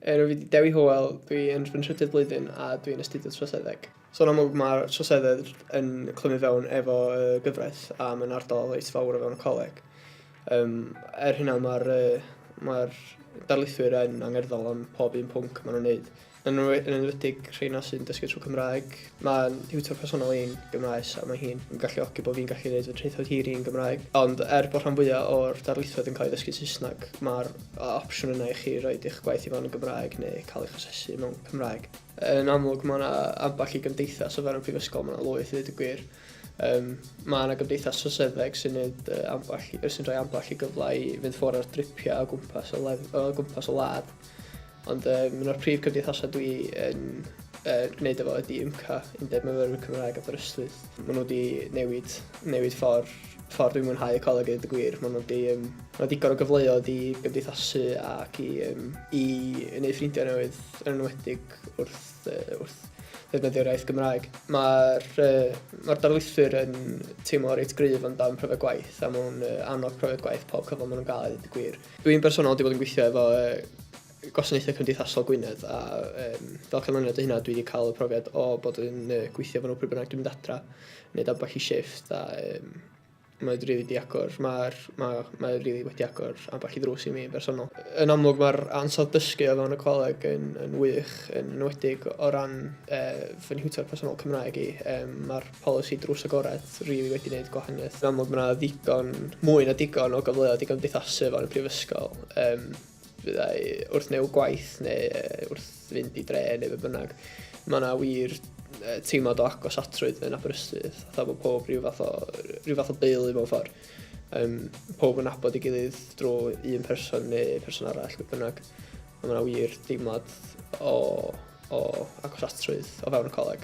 Er fi 'di Dewi Hywel, dwi yn fy nhrydydd blwyddyn a dwi'n astudio troseddeg. So yn amlwg mae'r trosedded yn clymu fewn efo y gyfraith a mae'n ardal reit fawr o fewn y coleg. Um, er hynna mae'r uh, mae darlithwyr yn angerddol am pob un pwnc maen nhw'n neud. Yn enwedig rheina sy'n dysgu trwy Cymraeg, Mae'n thiwtor personol i'n Gymraes a mae hi'n galluogi bod fi'n gallu gwneud fy traethawd hir i'n Gymraeg. Ond er bod rhan fwyaf o'r darlithoedd yn cael ei ddysgu'n Saesneg, mae'r opsiwn yna i chi roed eich gwaith i fewn yn Gymraeg neu cael eich asesu mewn Cymraeg. Yn amlwg, mae yna ambell i gymdeithas o fewn y prifysgol, mae yna lwyth i ddweud y gwir. Um, mae yna gymdeithas troseddeg sy'n neud uh, ambell, sy'n rhoi ambell i gyfle i fynd ffwrdd ar dripiau o gwmpas o, lef, o gwmpas o lad. Ond um, un o'r prif cymdeithasau dwi yn uh, gwneud efo ydi UMCA, Undeb Myfyrwyr Cymraeg Aberystwyth. Maen nhw wedi newid, newid ffordd, ffordd dwi'n mwynhau y coleg yn y gwir. Maen nhw wedi um, ma digon o gyfleoedd i gymdeithasu ac i, um, i wneud ffrindiau newydd yn enwedig wrth, uh, wrth ddefnyddio'r iaith Gymraeg. Mae'r uh, ma darlithwyr yn teimlo reit gryf amdan profiad gwaith a maen nhw'n uh, annog profiad gwaith pob cyfle maen nhw'n gael, dweud y gwir. Dwi'n bersonol wedi bod yn gweithio efo yy Gwasanaethau Cymdeithasol Gwynedd a um, fel canlyniad o hynna dwi wedi cael y profiad o bod yn uh, gweithio efo nhw pryd bynnag dwi'n mynd adra, wneud ambell i shift a um, mae wedi rili di agor, mae'r ma, ma rili wedi agor ambell i ddrws i mi yn bersonol. Yn amlwg mae'r ansawdd dysgu o fewn y coleg yn, yn wych, yn enwedig o ran uh, fy nhwtor personol Cymraeg i. Um, mae'r Polisi drws agored rili wedi neud gwahaniaeth. Yn amlwg ma na ddigon, mwy na digon o gyfleoedd i gymdeithasu o fewn y Prifysgol, yym fyddai wrth neu' gwaith neu wrth fynd i dre neu be bynnag. Ma na wir teimlad o agosatrwydd yn Aberystwyth, fatha bo powb ryw fath o ryw fath o deulu mewn ffor. Yym powb yn nabod ei gilydd drw un person neu person arall be bynnag. A ma na wir deimlad o o agosatrwydd o fewn y coleg.